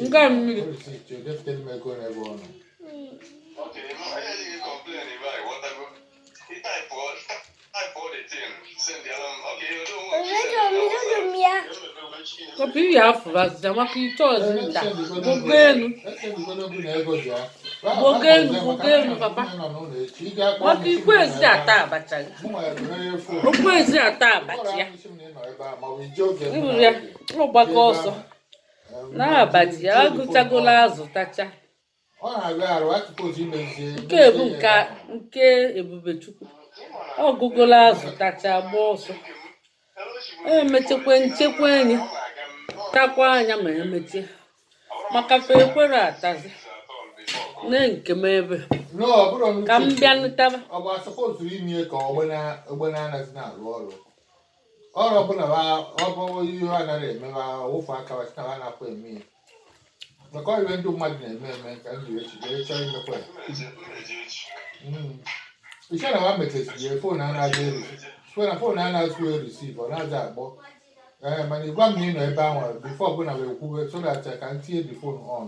Nke a mmiri. Kopi iyi afọ bazija maka ị chọzi nta. Gbago elu. Gbago elu, gbago elu, papa. Maka i kwezi ata abacha gị. O kwezi ata abacha ya. I buru ya, ọ gbakọ ọsọ. n'abacha ya ọ gụchagola azụ tacha nke ebu nke nke ebubechukwu ọ gụgola azụ tacha gba ọsọ emechekwa nchekwa enyi takwa anya ma emechie maka fe ekwere atazi nee nke m ebe ka m bịanụ taba ọrụ ọbụla ọ bụ ihe a nara eme ha wụfụ aka ha site ha na-apụ eme ya maka ọrịa ndị mmadụ na-eme eme ka m jiri echiche onye chọrọ imekwa ya i che na ha mechisiri phone a na-aza eri phone na phone anazị receive ọ nazị akpọ ee mana ị gwa m na ị nọ ebe ahụ before ọbụla wee kwuwe so that ka m tinye the phone on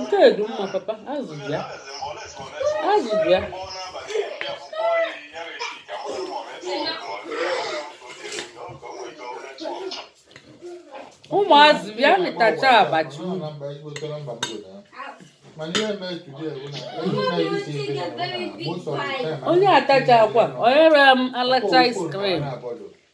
nke dị mma papa azụ bịa azụ bịa ụmụazị bịanụ tacha abacha unu onye atacha akwa o nyere m alacha ice cream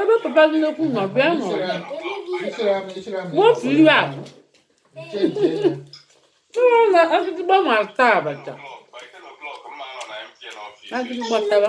Ebe papa gị nnukwu nọ bịa nọ wotu iwe a tụrụ na agịdịgba ma ata abacha agịdịgba tara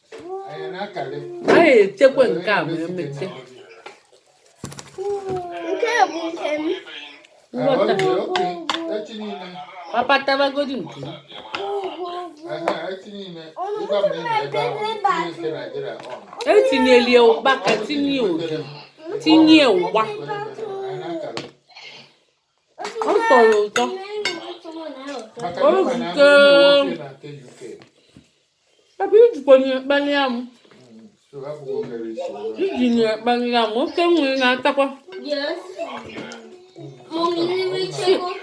anyị echekwa nke a ma emeche nke bụ nke m nghọta papa tabagodi nke m etinyeli ụkpaka tinye ụdị tinye ụgba ọ tọrọ ụtọ ebe i jikwa na-ekpali amụ i ji na-ekpali amụ oke nwere na-atakwa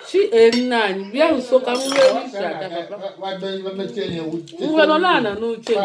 chi nna anyị bịa nso ka m wee si ata papa ngwa nọ n'ana n'oche m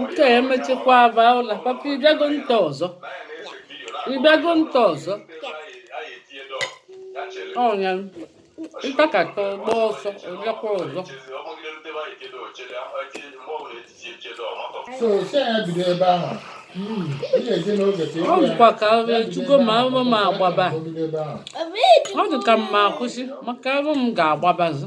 nke emechikwa aba ụla papa ị bịago nta ọzọ ị bịago nta ọzọ ọnya ntakata ọ gba ọsọ ọ bịakwa ọzọ so si ya bido ebe ahụ Mm, ị ga-eje n'oge ka ọ dịkwa ka ahụ echugo ma ahụ m agbaba ebe ahụ ọ dị ka m ma akwụsị maka ahụ m ga-agbabazi